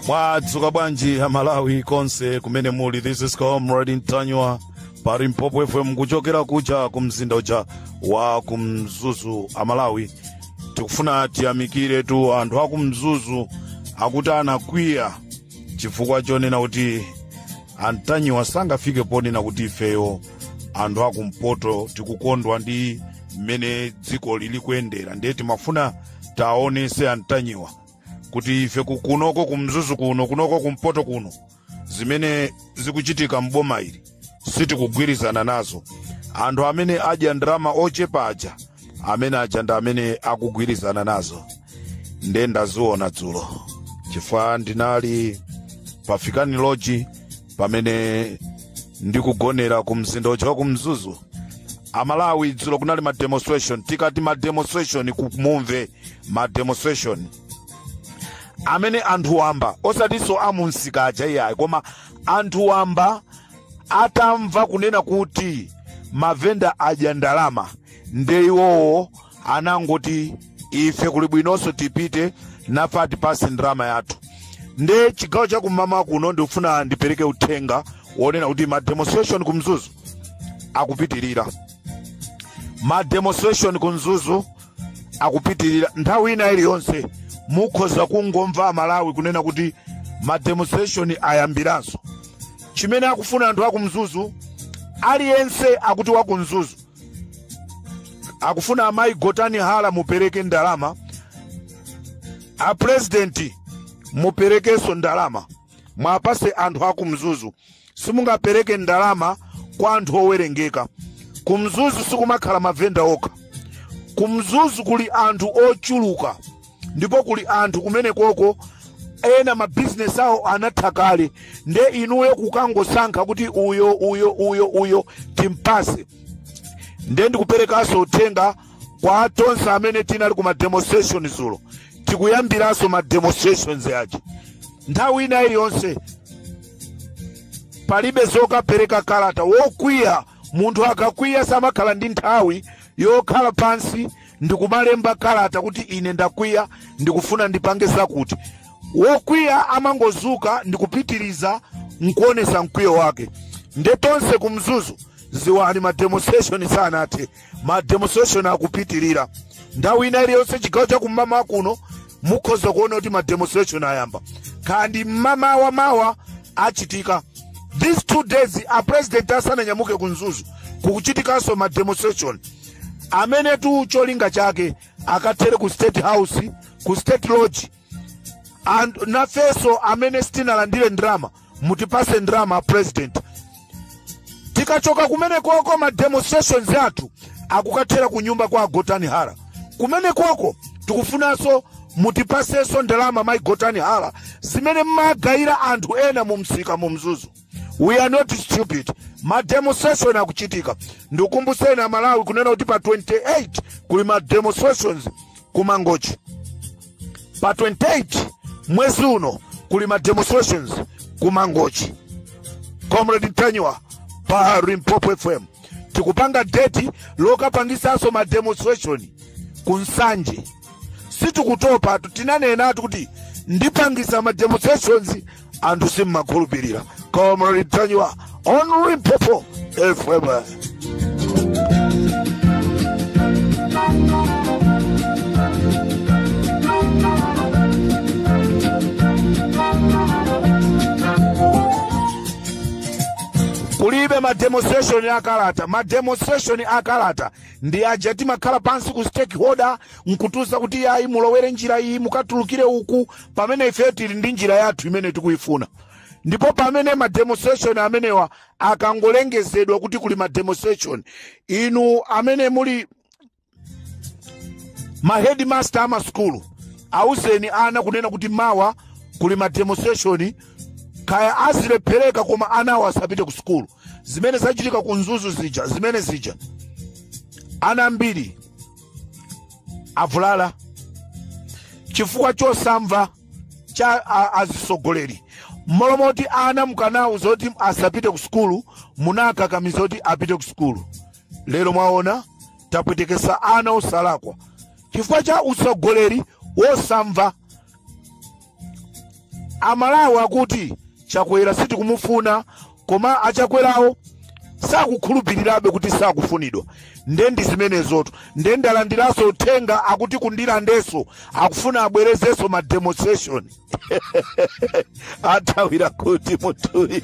mwadzuka bwanji amalawi konse kumene muli this is comrade ntanyiwa pa limpopo fm kuchokera kuja ku mzinda uja wa ku mzuzu amalawi tikufuna tiyamikire tu anthu aku mzuzu akuti anakwiya chifukwa chonena kuti antanyiwa sangafike ponena kuti ifeyo anthu akumpoto tikukondwa ndi mmene dziko lili kuyendera ndiye timafuna taonese antanyiwa kuti ife ku- kunoko kumzuzu kuno kunoko kumpoto kuno zimene zikuchitika m'boma ili sitikugwirizana nazo anthu amene adya ndalama ochepa aja amene aja ndi amene akugwirizana nazo nde ndaziona dzulo chifukwa ndinali pafikani loji pamene ndikugonera ku mzinda uja wa ku mzuzu amalawi dzulo kunali ma demonstration tikati ma demonstration kumumve ma demonstration amene anthu wamba osatinso amunsika aja iyayi koma anthu wamba atamva kunena kuti mavenda adya ndalama nde iwowo anangoti ife kuli bwinonso tipite nafe atipatse ndalama yathu nde chigawo chakummawa kuno ndikufuna ndipereke uthenga wonena kuti ma demonstration ku mzuzu akupitirira ma demonstration ku mzuzu akupitirira nthawi ina iliyonse mukhoza kungomva amalawi kunena kuti ma demonstration ayambiranso chimene akufuna anthu akumzuzu aliyense akuti wakumzuzu akufuna amayi gotani hara mupereke ndalama a purezidenti muperekenso ndalama muwapatse anthu a kumzuzu simungapereke ndalama kwa anthu owerengeka kumzuzu sikumakhala mavenda okha kumzuzu kuli anthu ochuluka ndipo kuli anthu kumenekoko ena mabizinesi awo anatha kale nde inuyo kukangosankha kuti uyo uyo uyo uyo timpatse nde ndikuperekanso uthenga kwa tonse amene tinali ku mademonstration dzulo tikuyambiranso mademonstrations aja nthawi ina iliyonse palibe zokapereka kalata wokwiya munthu akakwiya samakhala ndi nthawi yokhala pansi ndikumalemba kalata kuti ine ndakwiya ndikufuna ndipange zakuti wokwiya amangodzuka ndikupitiriza nkuonesa mkwiyo wake nde tonse ku mzuzu dziwani mademonstration sanathe mademonstration akupitirira nthawi ina iliyonse chigawo cha kummawa kuno mukhoza kuona kuti mademonstration ayamba kaya ndi mmamawa mawa achitika these two days a president asananyamuke ku mzuzu kukuchitikanso mademonstration amenetu cholinga chake akathere ku state house ku state lodge and nafeso amene sitinalandire ndrama mutipase ndrama president tikachoka kumene koko ma demonstrations athu akukathera ku nyumba kwa agotani hara kumene koko tikufunanso mutipasenso ndalama mayi gotani hara zimene mmagayira anthu ena mu msika mu mzuzu we are not stupid mademonstration akuchitika ndikumbuseni amalawi kunena kuti pa 28 kuli mademonstrations ku mangochi pa 28 mwezi uno kuli mademonstrations ku mangochi comrade ntanyiwa pa limpopo fm tikupanga deti lokapangisanso mademonstration ku nsanje sitikutopa tu- tinanenatu kuti ndipangisa ma demonstrations anthu simmakhulupirira comrade ntanyiwa on limpopo fm kulibe ma demonstration akalata ma demonstration akalata ndi aja timakhala pansi ku stakeholder nkutiuza kuti yayi mulowere njira iyi mukatulukire uku pamene ife tili ndi njira yathu imene tikuyifuna ndipo pamene ma demonstration amenewa akangolengezedwa kuti kuli ma demonstration inu amene muli ma headmaster amasukulu awuzeni ana kunena kuti mawa kuli ma demonstration kaya azilephereka koma anawo asapite ku sukulu zimene zachitika ku mzuzu zija zimene zija ana ambiri avulala chifukwa chosamva cha a- azisogoleri mmalo moti ana mukanawauza kuti asapite ku sukulu munakakamiza kuti apite ku sukulu lero mwaona tapwetekesa ana osalakwa chifukwa cha utsogoleri wosamva amalawi akuti chakwera sitikumufuna koma achakwerawo sakukhulupirirabe kuti sakufunidwa nde ndi zimenezotu nde ndalandiranso uthenga akuti ku ndirandenso akufuna abwerezenso ma demonstration athawira kuti munthuyi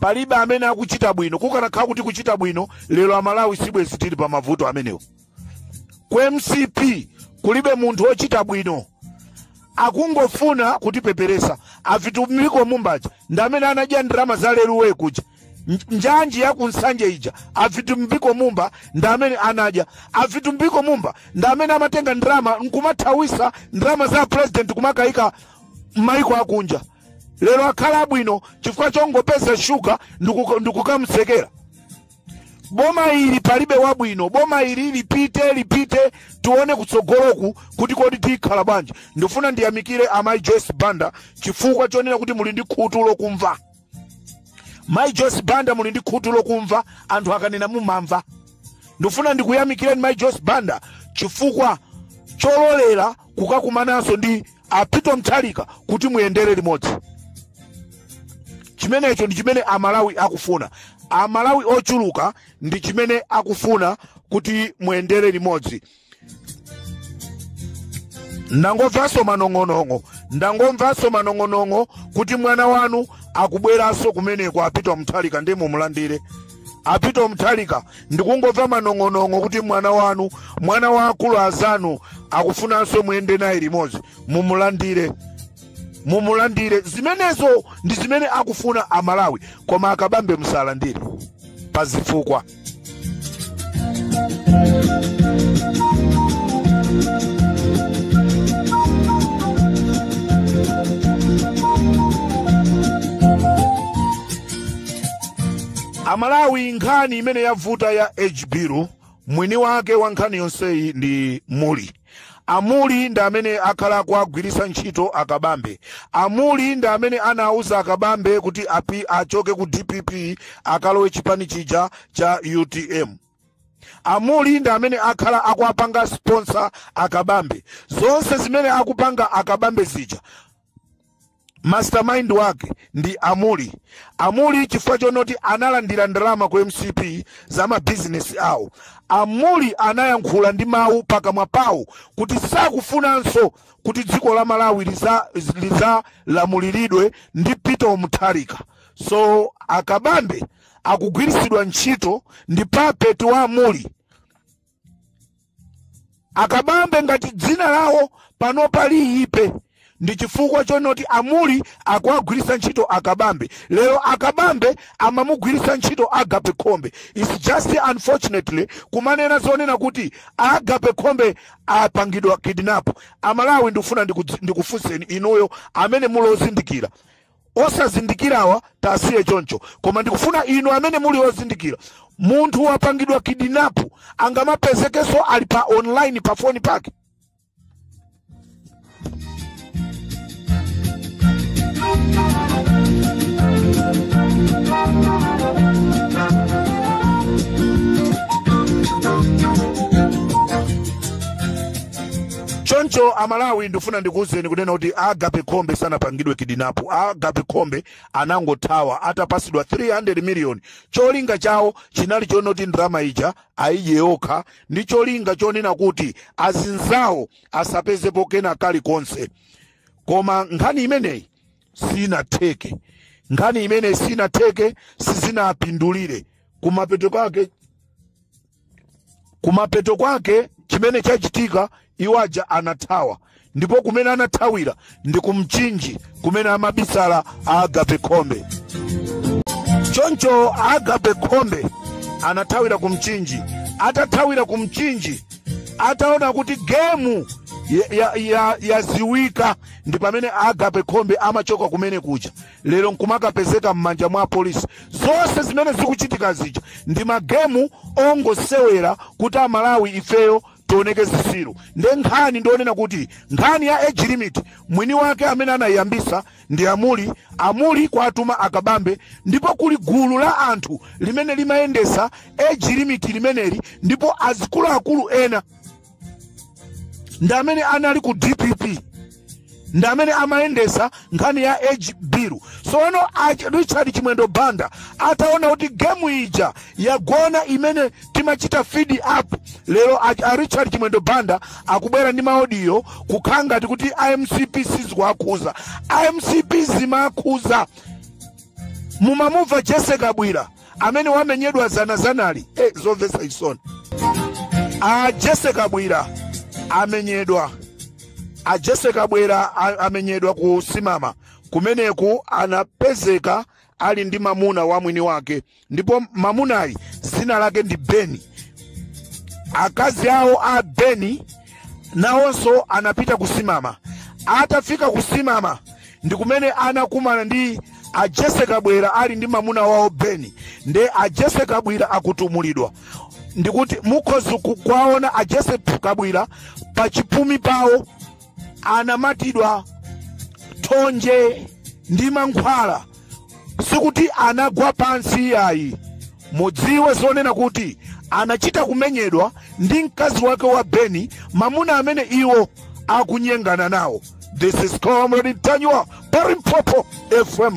palibe amene akuchita bwino kukanakhala kuti kuchita bwino lero amalawi sibwezi tili pa mavuto amenewo ku mcp kulibe munthu wochita bwino akungofuna kutipeperesa avitumbiko mumba aja ndi amene anadya ndalama za leruwe kuja Nj- njanji ya kunsanje ija avitumbiko mumba ndi amene anadya avitumbiko mumba ndi amene amatenga ndalama nkumathawisa ndalama za president kumakayika mmaiko akunja lero akhala abwino chifukwa chongopeza shuga ndikukamsekera boma ili palibe wabwino boma ili lipite lipite tiwone kutsogoloku kuti kodi tikhala bwanji ndifuna ndiyamikire amayi joyce banda chifukwa chonena kuti muli ndi khutu lokumva mayi joyce banda muli ndi khutu lokumva anthu akanena mumamva ndifuna ndikuyamikireni mayi joyce banda chifukwa chololera kukakumananso ndi a peter mutharika kuti muyendere limodzi chimenecho ndi chimene amalawi akufuna amalawi ochuluka ndi chimene akufuna kuti muyendere limodzi ndangomvanso manong'onong'o ndangomvanso manong'onong'o kuti mwana wanu akubweranso kumeneko a peter mutharika ndi mumulandire a peter mutharika ndikungomva manong'onong'o kuti mwana wanu mwana wa akulu azanu akufunanso muyende naye limodzi mumulandire mumulandire zimenezo ndi zimene akufuna amalawi koma akabambe musalandire pa zifukwa amalawi nkhani imene yavuta ya hbiru mwini wake wa nkhani yonseyi ndi muli amuli ndi amene akhala akuwagwiritsa ntchito akabambe amuli ndi amene anauza akabambe kuti achoke ku dpp akalowe chipani chija cha utm amuli ndi amene akhala akuwapanga sponsor akabambe zonse zimene akupanga akabambe zija mastermind wake ndi amuli amuli chifukwa chonoti analandira ndalama ku mcp za mabizinesi awo amuli anayankhula ndi mawu pakamwa pawo kuti sakufunanso kuti dziko la malawi lizalamuliridwe ndi peter mutharika so akabambe akugwiritsidwa ntchito ndi puppet wa amuli akabambe ngati dzina lawo panopa liyipe ndi chifukwa chonoti amuli akuwagwiritsa ntchito akabambe lero akabambe amamugwiritsa ntchito agape khombe its just unfortunately kumanena zonena kuti agape khombe apangidwa kidnap amalawi ndikufuna ndikufunseni inuyo amene mulozindikira osazindikirawa tiwasiye choncho koma ndikufuna inu amene muli ozindikira munthu wapangidwa kidnap angamapezekenso ali pa online pa foni pake choncho amalawi ndifuna ndikuwuzeni kunena kuti agape khombe sanapangidwe kidinapo agape khombe anangothawa atapasidwa 300 miliyoni cholinga chawo chinali chonoti ndalama ija ayidye yokha ndi cholinga chonena kuti azinzawo asapezepo kena kalikonse koma nkhani imeneyi sinatheke nkhani imeneyi sinatheke sizinapindulire kumapeto kwake kumapeto kwake chimene chachitika iwo aja anathawa ndipo kumene anathawira ndi kumchinji kumene amabisala agape khombe choncho agape khombe anathawira kumchinji atathawira kumchinji ataona kuti gemu yaziwika ndi pamene agape khombe amachoka kumene kuja lero nkumakapezeka m'manja mwa polisi zonse zimene zikuchitika zija ndi magemu ongosewera kuti amalawi ifeyo tioneke zisiru nde nkhani ndionena kuti nkhani ya age limit mwini wake amene anayiyambisa ndi amuli amuli kuwatuma akabambe ndipo kuli gulu la anthu limene limayendesa age limit limeneli ndipo azikuluakulu ena ndi amene anali ku dpp ndi amene amayendesa nkhani ya age bill sono richard chimwendo banda ataona kuti gemu ija yagona imene timachita fed up lero a richard chimwendo banda akubwera ndi maodiyo kukhala ngati kuti amcp sizikuwakhuza amcp zimawakhuza mumamumva jese kabwira amene wamenyedwa zana zanali zomvetsa chisoni a jese kabwira amenyedwa a jese kabwira amenyedwa ku simama kumeneku anapezeka ali ndi mamuna wa mwini wake ndipo mamunayi dzina lake ndi beni akazi awo a beni nawonso anapita kusimama atafika kusimama ndi kumene anakumana ndi a Jesse Kabwira ali ndi mamuna wawo Beni nde a Jesse Kabwira akutumulidwa ndikuti mukhoza kuwaona a Jesse Kabwira pa chipumi pawo anamatidwa thonje ndi mankhwala sikuti anagwa pansi iyayi mudziwe zonena kuti anachita kumenyedwa ndi mkazi wake wa beni mamuna amene iwo akunyengana nawo this is comrade ntanyiwa pa limpopo fm